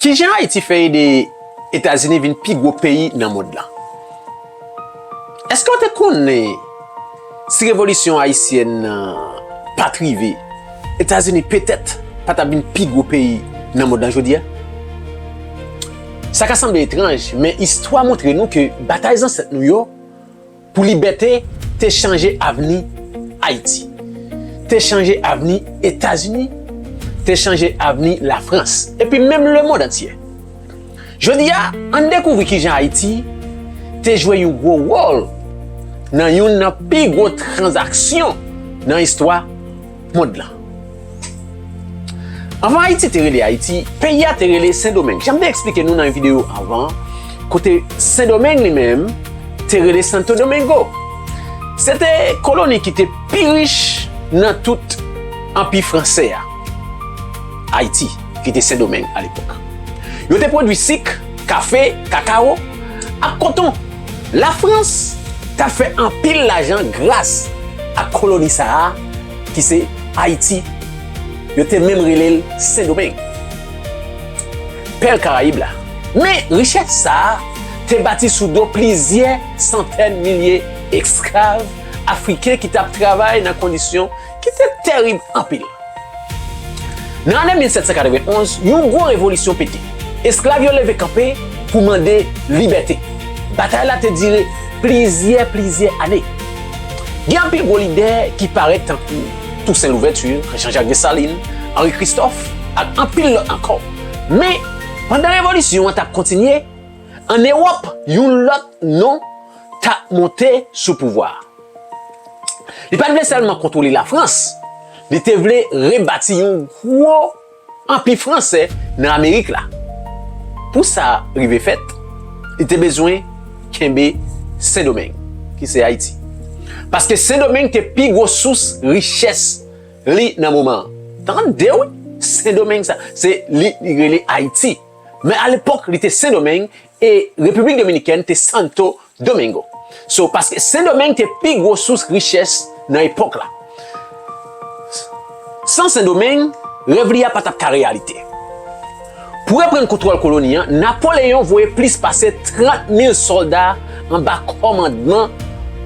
Ki jan Ayiti fè ede Etazini vin pi gwo peyi nan mond lan? Èske w te konnen si revolisyon ayisyèn nan pa t rive, Etazini petèt pa t ap vin pi gwo peyi nan mond lan jodi a? Sa ka sanble etranj, men istwa montre nou ke batay zansèt nou yo, pou libète te chanje avni Ayiti, te chanje avni Etazini, te chanje avni Lafrans, epi menm lemond antye. Jodi a, ann dekouvri ki jan Ayiti te jwe yon gwo wòl nan youn nan pi gwo tranzaksyon nan istwa. mond lan. Anvan Ayiti te rele Ayiti, peyi a te rele Sendomeng. Jan m te eksplike nou nan yon videyo anvan, kote Sendomeng li menm te rele Santo Domingo. Se te koloni ki te pi rich nan tout Anpi Franse a. Ayiti, ki te Sendomeng alepòk. Yo te pwodui sik, kafe, kakawo, ak koton. Lafrans t ap fè anpil lajan gras ak koloni sa a. ki se Ayiti, yo te menm rele l Sendomeng, pèl Karayib la. Men, richès sa a te bati sou do plizyè santèn milye esklav afriken ki t ap travay nan kondisyon ki te terib anpil. Nan ane 1791, yon gwo revolisyon pete. Esklav yo leve kanpe pou mande libète. Batay la te dire plizyè plizyè ane. Gen anpil gwo lidè ki parèt tankou Tousen Louvèti, Jan Jak Desalin, Anri Kristòf ak anpil lòt ankò. Men, pandan revolisyon an t ap kontinye, ann Ewòp yon lòt non t ap monte sou pouvwa a. Li pa t vle sèlman kontwole Lafrans, li te vle rebati yon gwo anpi fransè nan Amerik la. Pou sa rive fèt, li te bezwen kenbe Sendomeng, ki se Ayiti. Paske Sendomeng te pi gwo sous richès li nan moman an. Tande wi! Sendomeng sa, se li li rele Ayiti. Men alepòk li te Sendomeng E Repiblik Dominikèn te Santo Domingo. So, paske Sendomeng te pi gwo sous richès nan epòk la. San Sendomeng, rèv li a pa t ap ka reyalite. Pou reprann kontwòl koloni an, Napoleyon voye plis pase 30 mil sòlda anba kòmandman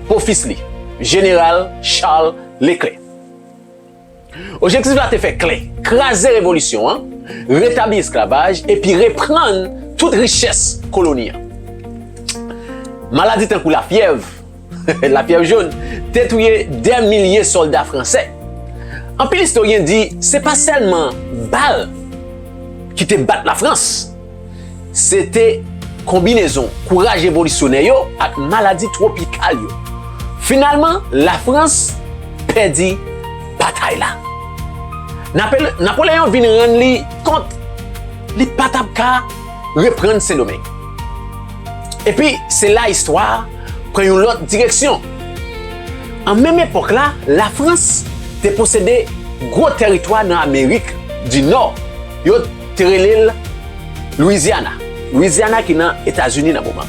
bofis li, Jeneral Charles Leclerc. Objektif la te fè klè, kraze revolisyon an, retabli esklavaj epi reprann tout richès koloni an. Maladi tankou lafyèv, la fièvre jaune, te touye dè milye sòlda fransè. Anpil istoryen di se pa sèlman bal ki te bat Lafrans, Se te konbinezon kouraj revolisyonè yo ak maladi twopikal yo. Finalman, Lafrans pèdi batay la. Napoleyon vin rann li kont li pa t ap ka reprann Sendomeng. Epi, se la istwa a pran yon lòt direksyon. An menm epòk la, Lafrans te posede gwo tèritwa nan Amerik dinò. Yo te rele l Louisiana. Louisiana ki nan Etazini nan moman.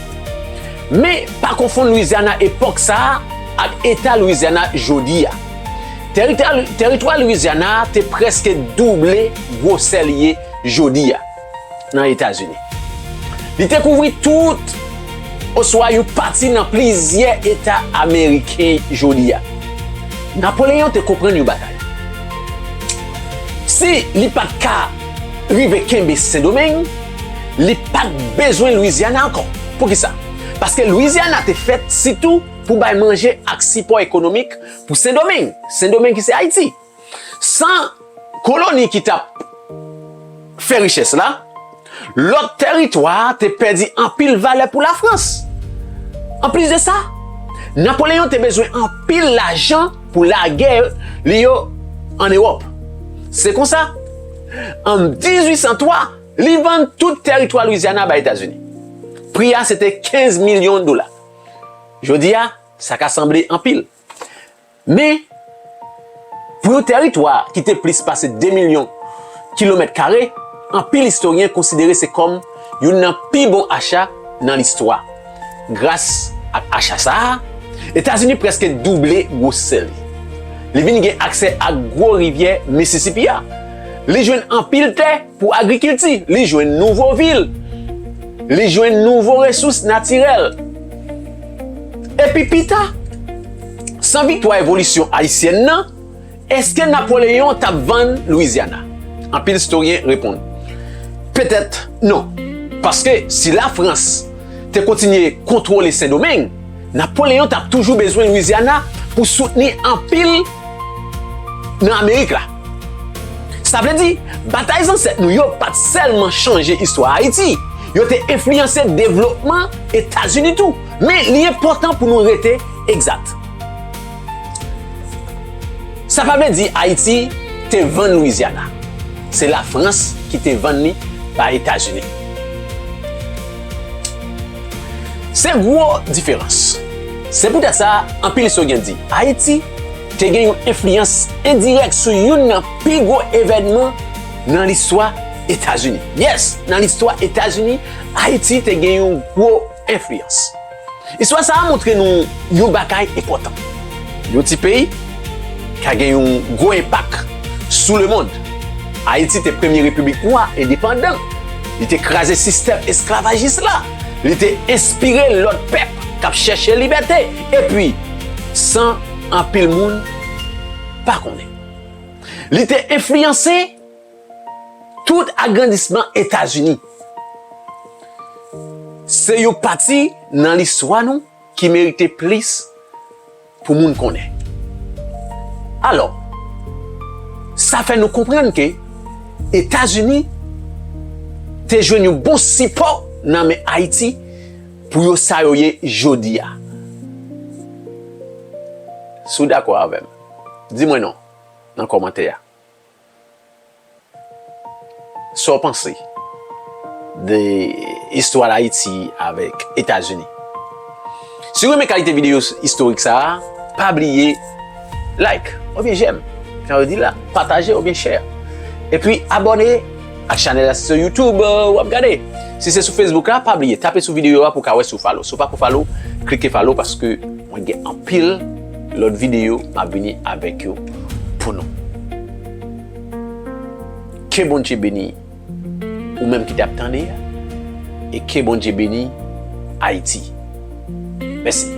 Men, pa konfonn Louisiana epòk sa a ak Eta Louisiana jodi a. Teritwa Louisiana a te prèske double gwosè li ye jodi a nan Etazini. Li te kouvri tout oswa yon pati nan plizyè eta ameriken jodi a. Napoleyon te konprann yon bagay, si li pa t ka rive kenbe Sendomeng, li pa t bezwen Lwizyana ankò. Poukisa? Paske Lwizyana te fèt sitou pou bay manje ak sipò ekonomik pou Sendomeng, Sendomeng ki se Ayiti. San koloni ki t ap fè richès la, lòt tèritwa te pèdi anpil valè pou Lafrans. Anplis de sa, Napoleyon te bezwen anpil lajan pou lagè li yo ann Ewòp. Se konsa, an 1803, li vann tout tèritwa Lwizyana bay Etazini. Pri a sete 15 milyon dola. Jodi a, sa ka sanble anpil. Men, pou yon tèritwa ki te plis pase 2 milyon kilomèt kare, anpil istoryen konsidere se kòm youn nan pi bon acha nan listwa. Gras ak acha sa a, Etazini prèske double gwosè li. Li vin gen aksè ak gwo rivyè Mississippi a. Li jwenn anpil tè pou agrikilti. Li jwenn nouvo vil. Li jwenn nouvo resous natirèl. Epi pita, san viktwa evolisyon ayisyèn nan, èske Napoleyon t ap vann Lwizyana? Anpil istoryen reponn, Petèt non, paske si Lafrans te kontinye kontwole Sendomeng, Napoleyon t ap toujou bezwen Lwizyana pou soutni anpil nan Amerik la. Sa vle di, batay zansèt nou yo pa t sèlman chanje istwa Ayiti, yo te enfliyanse devlopman Etazini tou. Men, li enpòtan pou nou rete egzat. Sa pa vle di Ayiti te vann Lwizyana. Se Lafrans ki te vann li bay Etazini. Se gwo diferans. Se poutèt sa, anpil istoryen di Ayiti. te gen yon enfliyans endirèk sou youn nan pi gwo evènman nan listwa Etazini. Yes, nan listwa Etazini, Ayiti te gen yon gwo enfliyans. Istwa sa a montre nou yon bagay enpòtan, yon ti peyi ka gen yon gwo enpak sou lemond. Ayiti te premye repiblik nwa endepandan, li te kraze sistèm esklavajis la, li te enspire lòt pèp k ap chèche libète, epi, san. anpil moun pa konnen. Li te enfliyanse tout agrandisman Etazini. Se yon pati nan listwa nou ki merite plis pou moun konnen. Alò, sa fè nou konprann ke Etazini te jwenn yon bon sipò nan men Ayiti, Pou yo sa yo ye jodi a. Si w dakò avè m, di mwen non nan kòmantè a. Sa w panse de istwa Ayiti avèk Etazini? Si w renmen kalite videyo istorik sa a, pa bliye. Like oubyen j'aime jan yo dil la, pataje oubyen share epi abone ak chanèl la si se YouTube wap gade si se sou Facebook la pa bliye tape sou videyo a pou ka wè si w follow si w pako follow klike follow paske mwen gen anpil lòt videyo map vini avèk yo pou nou ke Bondje beni. Ou menm ki tap tande ya e ke Bondye beni Haïti. Mèsi.